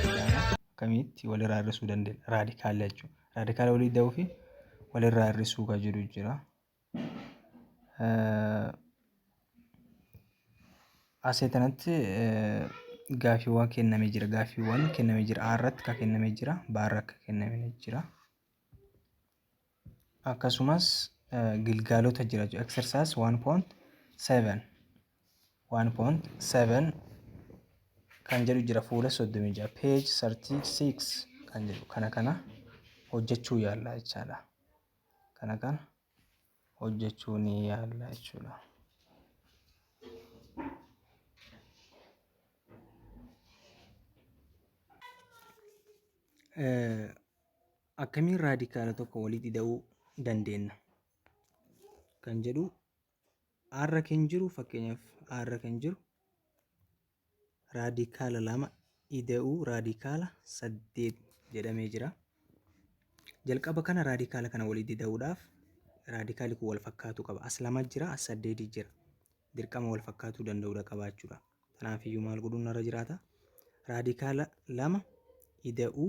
akkamitti walirraa hir'isuu dandeenya raadikaala jechuudha. Raadikaala walii da'uu fi walirraa hir'isuu kan jedhu jira. Asii kanatti gaaffiiwwan kennamee jira. Gaaffiiwwan kennamee jira. A irratti kan kennamee jira. B irratti kan kennamee jira. akkasumas gilgaalota jira jechuudha. Exercise 1.7 1.7 kan jedhu jira fuula 36 page 36 kan jedhu kana kana hojjechuu yaalla jechaadha. Kana kana hojjechuu ni yaalla jechuudha. Eh, Akkamiin raadikaala tokko walitti ida'uu dandeenna kan jedhu R kan jiru fakkeenyaaf R kan jiru raadikaala lama ida'uu raadikaala saddeet jedhamee jira. Jalqaba kana raadikaala kana walitti ida'uudhaaf raadikaali kun wal fakkaatu qaba. As lama jira, as saddeeti jira. Dirqama wal fakkaatuu danda'uudha qabaachuudha. Kanaaf iyyuu maal godhuun narra jiraata? Raadikaala lama ida'uu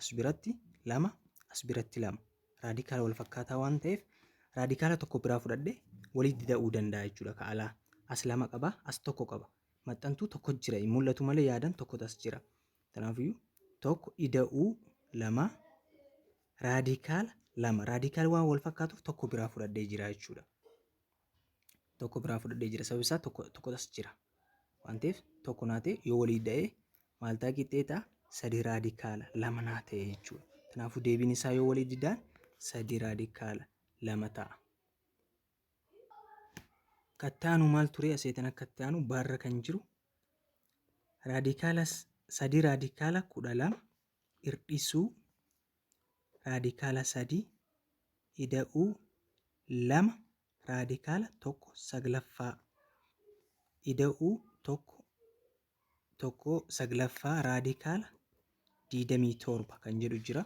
as biratti lama as biratti lama raadikaala wal fakkaataa waan ta'eef raadikaala tokko biraa fudhadhe walitti da'uu danda'a jechuudha ka alaa as lama qaba as tokko qaba maxxantuu tokko jira hin mul'atu malee yaadan tokko as jira kanaafiyyuu tokko ida'uu lama raadikaala lama raadikaala waan wal fakkaatuuf tokko biraa fudhadhee jira jechuudha. tokko biraa fudhadhee jira sababni isaa tokko tokko as jira waan ta'eef tokko naa ta'e yoo walii da'ee maal ta'a qixxee ta'a sadii raadikaala lama naa ta'e jechuudha kanaafuu deebiin isaa yoo walii didaan sadii raadikaala lama ta'a. Kattaanu maal ture aseetan akka ittaanu baarra kan jiru raadikaala sadii raadikaala kudha lama hirdhisuu raadikaala 3 ida'uu 2 raadikaala 1 saglaffaa ida'uu 1 1 saglaffaa raadikaala 27 kan jedhu jira.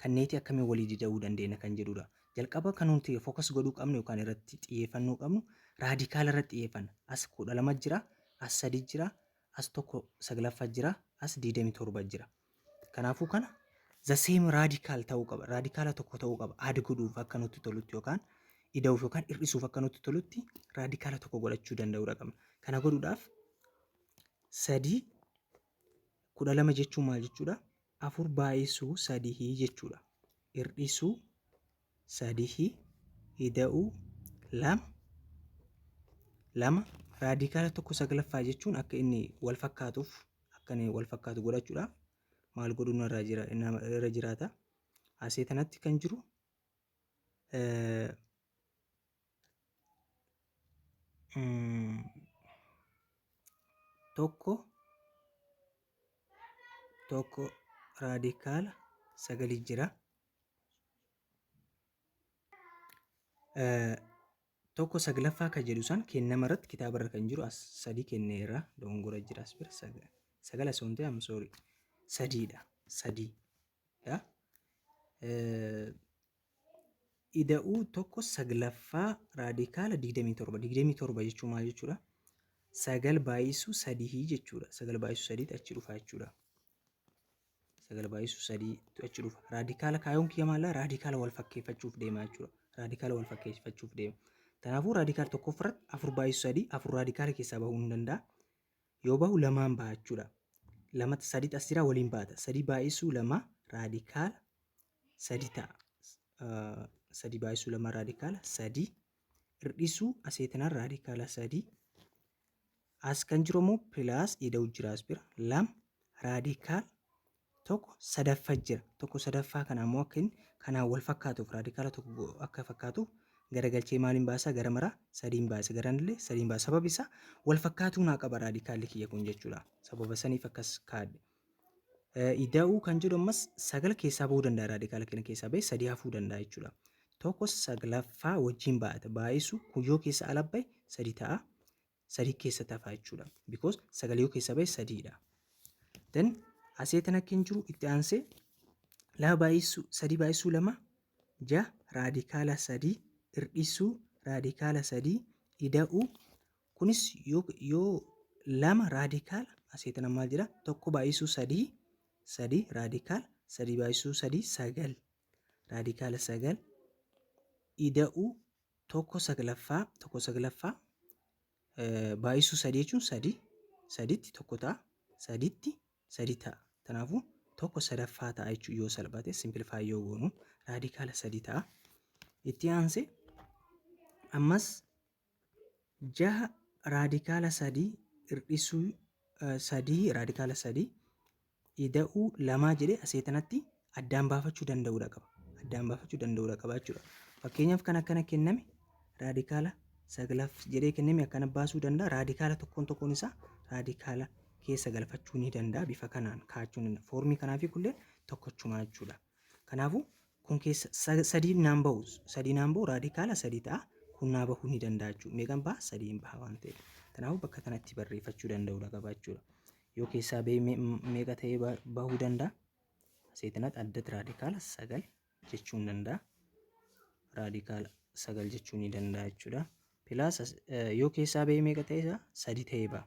Kanneetii akkamiin walii dida'uu dandeenya kan jedhudha. Jalqaba kan nuti fookas godhuu qabnu yookaan irratti xiyyeeffannoo qabnu raadikaala irratti xiyyeeffanna. As kudha lama jira, as sadi jira, as tokko saglaffaa jira, as digdamii torba jira. Kanaafuu kana the same radical ta'uu qaba. Raadikaala tokko ta'uu qaba. Aad godhuuf akka nutti tolutti yookaan ida'uuf yookaan hir'isuuf akka nutti tolutti raadikaala tokko godhachuu danda'uudha qabna. Kana godhuudhaaf sadii kudha lama jechuun maal jechuudha? Afur baay'isuu sadii jechuudha. Hir'isuu sadihi ida'uu lama lama raadikaala tokko saglaffaa jechuun akka inni wal fakkaatuuf akka inni wal fakkaatu godhachuudhaaf maal godhuun irraa jira nama irra jiraata. Asii kanatti kan jiru eh, mm, tokko tokko raadikaala sagalii jira. tokko saglaffaa kan jedhu san kennama irratti kitaaba irra kan jiru as sadii kenne irra dogongora jira as bira sagal as ontee am sorry sadiidha sadii dha ida'uu tokko saglaffaa raadikaala 27 27 jechuun maal jechuudha sagal baay'isuu sadii jechuudha sagal baay'isuu sadiitti achi dhufaa jechuudha sagal baay'isu sadiitu achi dhufa. Raadikaala kaayoon kiyya maallaa raadikaala wal fakkeeffachuuf deema jechuudha. Raadikaala wal fakkeeffachuuf deema. Kanaafuu raadikaala tokkoffaa irratti afur baay'isu sadii afur raadikaala keessaa bahuu hin danda'a. Yoo bahu lamaan baha jechuudha. Lamatti sadii as jira waliin baata. Sadii baay'isu lama raadikaala sadii ta'a. Ah, Sadii baay'isu lama raadikaala sadii. Hir'isuu aseetinaan raadikaala sadii. As kan jiru ammoo pilaas ida'u jira as bira. Lama raadikaal tokko sadaffa jira. Tokko sadaffaa kana ammoo akka inni kanaan wal fakkaatuuf raadikaala tokko akka fakkaatuuf garagalchee maaliin baasaa gara maraa sadiin baasa garaan illee sadiin baasa sababi isaa wal fakkaatuu naa qaba raadikaalli kiyya kun jechuudha sababa saniif akkas kaadhe Ida'uu kan jedhu ammas sagal keessaa ba'uu danda'a raadikaala kena keessaa ba'e sadii hafuu danda'a jechuudha. Tokko saglaffaa wajjin baay'ata baay'isu kun yoo keessa ala ba'e sadii ta'a sadii keessa tafa jechuudha. Because sagal yoo keessa ba'e sadiidha. Then asee tan akka hin jiru itti aansee lama baay'isuu sadii baay'isuu lama ja raadikaala sadii irdhisuu raadikaala sadii ida'uu Kunis yoo yoo lama raadikaala asii tana maal jedha tokko baay'isuu sadii sadii raadikaala sadii baay'isuu sadii sagal raadikaala sagal ida'uu tokko saglaffaa tokko saglaffaa baay'isuu sadii jechuun sadii saditti tokko ta'a saditti sadii ta'a kanaafuu tokko sadaffaa ta'a jechuun yoo salphate simplifaa yoo goonu raadikaala sadii ta'a itti aansee ammas 6 raadikaala 3 irdhisuu 3 raadikaala 3 ida'uu 2 jedhe asee tanatti addaan baafachuu danda'uudha qaba. Addaan baafachuu danda'uudha qaba jechuudha. Fakkeenyaaf kan akkana kenname raadikaala saglaaf jedhee kenname akkana baasuu danda'a. Raadikaala tokkoon tokkoon isaa raadikaala keessa galfachuu ni danda'a. Bifa kanaan kaa'achuu ni danda'a. Foormii kanaa fi kulleen tokkochumaa jechuudha. Kanaafuu kun keessa sa- sadiin naan bahu sadii naan bahu raadikaala sadii ta'a kun naa bahuu ni danda'a jechuudha. Meeqan baha sadiin baha waan ta'eef. Kanaafuu bakka kanatti barreeffachuu danda'uudha qaba jechuudha. Yoo keessaa bahee me- m- meeqa ta'ee ba- bahuu danda'a? Seetinat addat raadikaala sagal jechuun danda'a. Raadikaala sagal jechuun ni danda'a jechuudha. Pilaas as- eh, yoo keessaa bahee meeqa ta'ee isaa sadii ta'ee baha.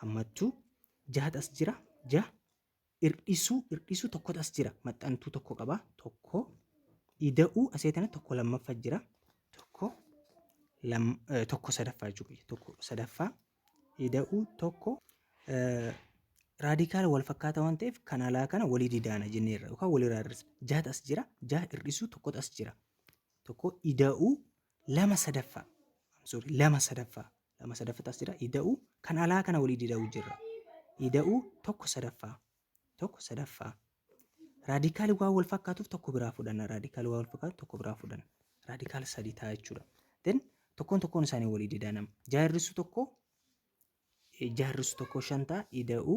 hammattuu jahat as jira ja irdhisuu irdhisuu tokkotu as jira maxxantuu tokko qaba tokko ida'uu asee tana tokko lammaffa jira tokko lam eh, tokko sadaffaa jechuudha tokko sadaffaa ida'uu tokko eh, raadikaala wal fakkaata waan ta'eef kan alaa kana walii didaana jenneerra yookaan walirraa hir'isna jahat as jira ja irdhisuu tokkotu as jira tokko ida'uu lama sadaffaa I'm sorry lama sadaffaa lama sadaffatu as jira ida'u kan alaa kana walii dida'u jirra ida'u tokko sadaffaa tokko sadaffaa raadikaali waan wal fakkaatuuf tokko biraa fudhanna raadikaali waan wal fakkaatu tokko biraa fudhanna raadikaal sadii ta'a jechuudha then tokkoon tokkoon isaanii walii didaa nama jaarrisu tokko jaarrisu tokko shan ta'a ida'u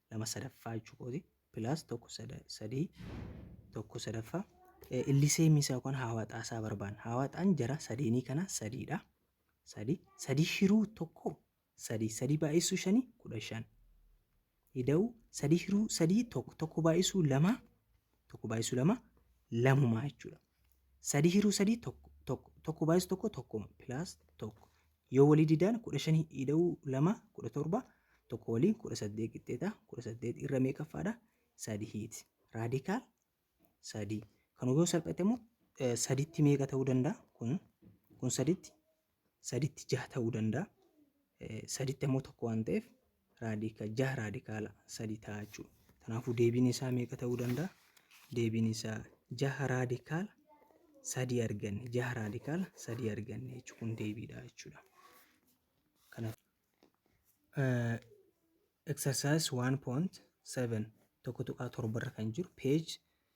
lama sadaffaa jechuu kooti pilaas tokko sadii tokko sadaffaa illisee misaa yookaan haawaxaa isaa barbaan haawaxaan jara sadeenii kana sadiidha sadii sadii hiruu tokko sadii sadii baay'isuu shanii kudha shan ida'u sadii hiruu sadii tokko tokko baay'isuu lama tokko baay'isuu lama lamumaa jechuudha. sadii hiruu sadii tokko tokko tokko baay'is tokko tokkuma pilaas tokko yoo walii didaan kudha shan hidha'uu lama kudha torba tokko waliin kudha saddeet qixxeeta kudha saddeet irra meeqaffaadha sadii hiiti raadikaal sadii kan yoo salphate immoo sadiitti meeqa ta'uu danda'a kun kun sadiitti saditti jaha ta'uu danda'a. Saditti ammoo tokko waan ta'eef raadika jaha raadikaala sadi ta'a jechuudha. Kanaafuu deebiin isaa meeqa ta'uu danda'a? Deebiin isaa jaha raadikaala sadii arganne jaha raadikaala sadii arganne jechuun kun deebiidha jechuudha. Kanaaf exercise 1.7 tokko tuqaa torba irra kan jiru page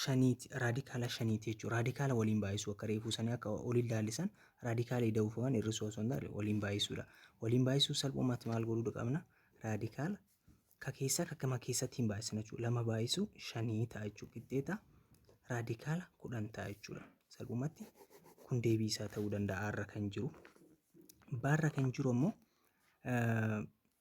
shaniiti raadikaala shaniiti jechuudha. Raadikaala waliin baay'isuu akka reefuu sanii akka oliin laallisan raadikaala ida'uufaman hir'isuu osoo hin taane waliin baay'isuudha. Waliin baay'isuu salphumatti maal godhuu qabna? Raadikaala ka keessaa ka gama keessatti hin baay'isna jechuudha. Lama baay'isuu shanii ta'a jechuudha. Qixxeeta raadikaala kudhan ta'a jechuudha. Salphumatti kun deebii isaa ta'uu danda'a har'a kan jiru. Baarra kan jiru ammoo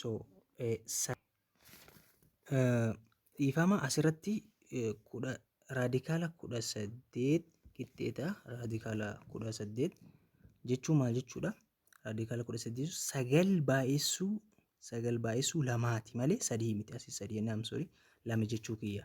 So, eh, sa- eh, dhiifama asirratti eh, kudha raadikaala kudha saddeet qixxeeta raadikaala kudha saddeet jechuun maal jechuudha? Raadikaala kudha saddeet jechuun sagal baay'essuu sagal baay'essuu lamaati malee sadii miti asii sadii naam sorry lama jechuu kiyya.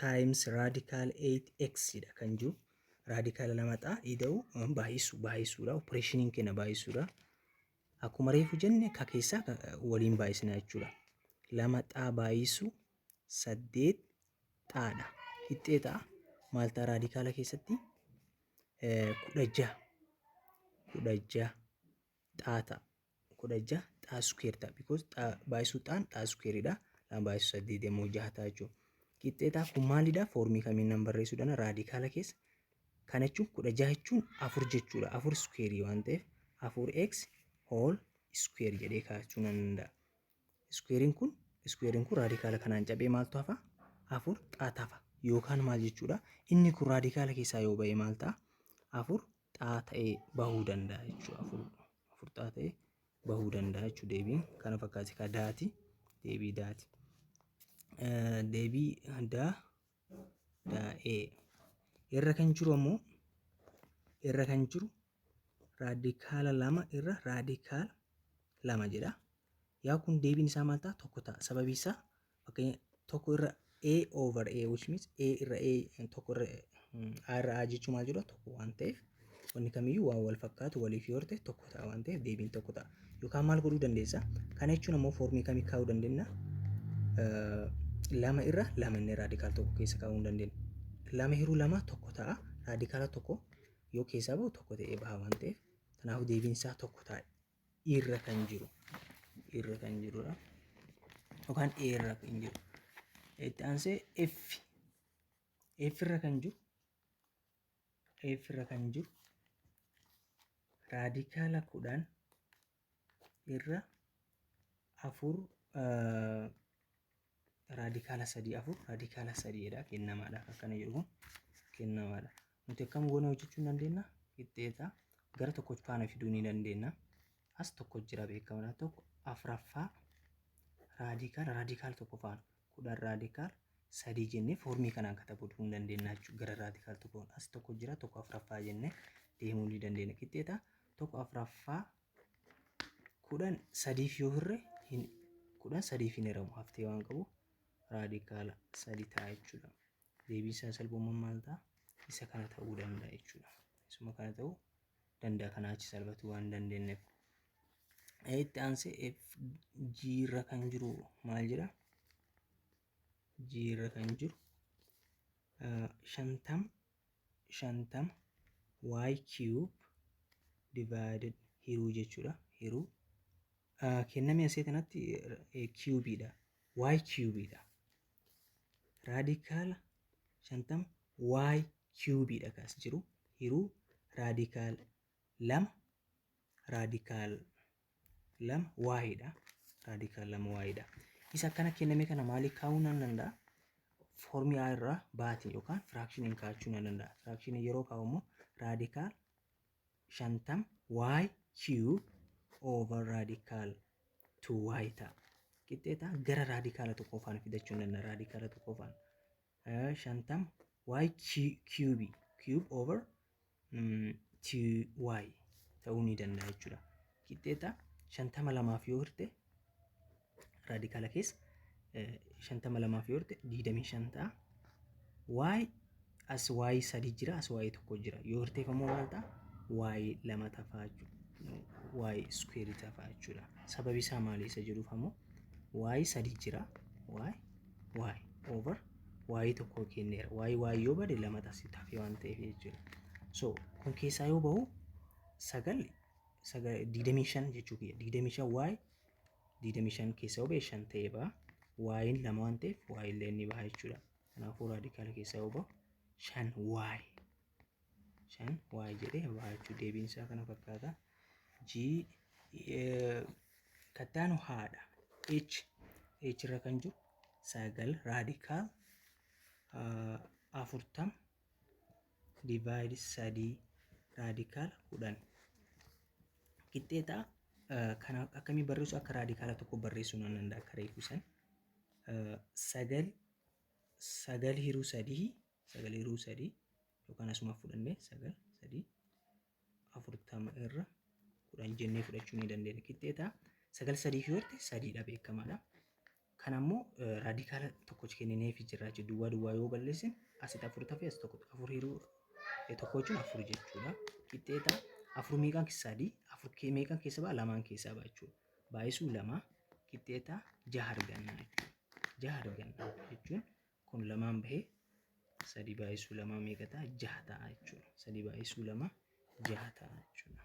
times radical 8x dha kan jiru raadikaala lamaxaa ida'u baay'isu baay'isuudha opereeshiniin kenna baay'isuudha akkuma reefu jenne ka keessaa waliin baay'isna jechuudha lama xaa baay'isu saddeet xaadha hixxee xaa maaltaa raadikaala keessatti kudha jaha kudha jaha xaa ta'a. kudha jaha xaa square ta'a because xaa baay'isuu xaan xaa square dha lama baay'isuu saddeet immoo jaha ta'a jechuudha. Qixxee xaa kun maalidha foormii kamiin nan barreessuu dana raadikaala keessa kana jechuun kudha jaha jechuun afur jechuudha afur square waan ta'eef afur x whole square jedhee kaa'achuu nan danda'a. Square'n kun square'n kun raadikaala kanaan cabee maaltu hafa afur xaa tafa yookaan maal jechuudha inni kun raadikaala keessaa yoo ba'e maal ta'a afur xaa ta'ee bahuu danda'a jechuudha. Afur afur xaa ta'ee bahuu danda'a jechuudha deebiin kana fakkaati ka daati deebii daati. Deebii daa daa'ee irra kan jiru ammoo irra kan jiru raadikaala lama irra raadikaala lama jedha. Yaa kun deebiin isaa maal ta'a tokko ta'a sababii isaa Fakkeenya tokko irra A over A which means A irra A tokko irra A irra A jechuun maal jechuudha tokko waan ta'eef wanni kamiyyuu waan wal fakkaatu waliif yoo ta'e tokko ta'a waan ta'eef deebiin tokko ta'a. Yookaan maal godhuu dandeessa? Kana jechuun ammoo foormii kamii kaa'uu dandeenya? Lama irra lama inni raadikaal tokko keessa kaa'uu hin dandeenya. Lama hiruu lama tokko ta'a raadikaala tokko yoo keessaa bahu tokko ta'ee baha waan ta'eef kanaafuu deebiin isaa tokko ta'a. irra kan jiru irra kan jirudha yookaan e irra kan jiru itti aansee f f irra kan jiru f irra kan jiru raadikaala kudhan irra afur raadikaala sadii afur raadikaala sadii jedha kennamaadhaaf akkana jedhu kun kennamaadha. Nuti akkam goonee hojjechuu ni dandeenya qixxeeta gara tokko faana fiduu ni dandeenya. As tokko jira beekamadha tokko afraffaa raadikaala raadikaala tokko faana kudhan raadikaala sadii jennee foormii kanaan katabuu ni dandeenya jechuudha gara raadikaala tokkoon as tokko jira tokko afraffaa jennee deemuu ni dandeenya qixxeeta tokko afraffaa kudhan sadiif yoo hirre hin kudhan sadiif hin hiramu haftee waan qabu raadikaala sadi ta'a jechuudha. Deebiin isaa salphummaan maal ta'a? Isa kana ta'uu danda'a jechuudha. Isuma kana ta'uu danda'a kanaa achi salphatu waan dandeenyeef. Itti aansee F G irra kan jiru maal jedha? G irra kan jiru shantam 50 y cube divided hiruu jechuudha hiruu Ah, kenname asee kanatti eh, cube dha y cube dha raadikaala 50 y cube dha kaas jiru hiruu raadikaala 2 raadikaal lama waa'eedha. Raadikaal lama waa'eedha. Isa akkana kenname kana maaliif kaa'uu nan danda'a? Foormii A irraa baatiin yookaan firaakshiniin kaa'achuu nan danda'a. Firaakshiniin yeroo kaa'u immoo raadikaal shantam y cube over raadikaal 2y ta'a. Qixxeetaa gara raadikaala tokkoofaan fidachuu nan danda'a. Raadikaala tokkoofaan 50 y cube cube over mm, 2y ta'uu ni danda'a jechuudha. Qixxeeta 50 lamaaf yoo hirte raadikaala keessa eh, 50 lamaaf yoo hirte 25 ta'a. y as y sadii jira as y tokko jira yoo hirteef ammoo maal ta'a? y lama tafaa jechuudha. y iskuweerii tafaa jechuudha. Sababi isaa maali isa jedhuuf ammoo y sadii jira y y over y tokkoo kenneera y y yoo bade lama tasii tafe waan ta'eef jechuudha so kun keessaa yoo bahu sagal sagal digdamii shan jechuu kiyya digdamii shan y digdamii shan keessaa yoo bahe shan ta'ee baha y'n lama waan ta'eef y illee ni baha jechuudha kanaafuu raadikaala keessaa yoo bahu shan y 5 y jedhee y jechuun deebiin isaa kana fakkaata g kattaanu haadha h h irra kan jiru sagal raadikaal afurtam divaayid sadii raadikaal kudhan qixxeetaa kana akkamii barreessu akka raadikaala tokko barreessuu nan danda'a akka reefu san sagal sagal hiruu sadii sagalee ruu sadii yookaan asuma fudhannee sagal sadii afurtama irra kudhan jennee fudhachuu ni dandeenya. Qixxee ta'a. Sagal sadii fi horte sadiidha beekamaadha. Kan ammoo raadikaala tokkochi kennineefi jirra jechuudha. Duwwaa duwwaa yoo balleessin asitti afur tafe as tokko afur hiruu tokko jechuun afur jechuudha. Qixxee ta'a. Afur meeqaan keessa sadii afur meeqaan keessa ba'a lamaan keessa ba'a jechuudha. Baay'isuu lama qixxee ta'a jaha arganna jechuudha. Jaha arganna jechuun kun lamaan bahee sadii baay'isuu lamaa meeqa ta'a jaha ta'a jechuudha. Sadii baay'isuu lama jaha ta'a jechuudha.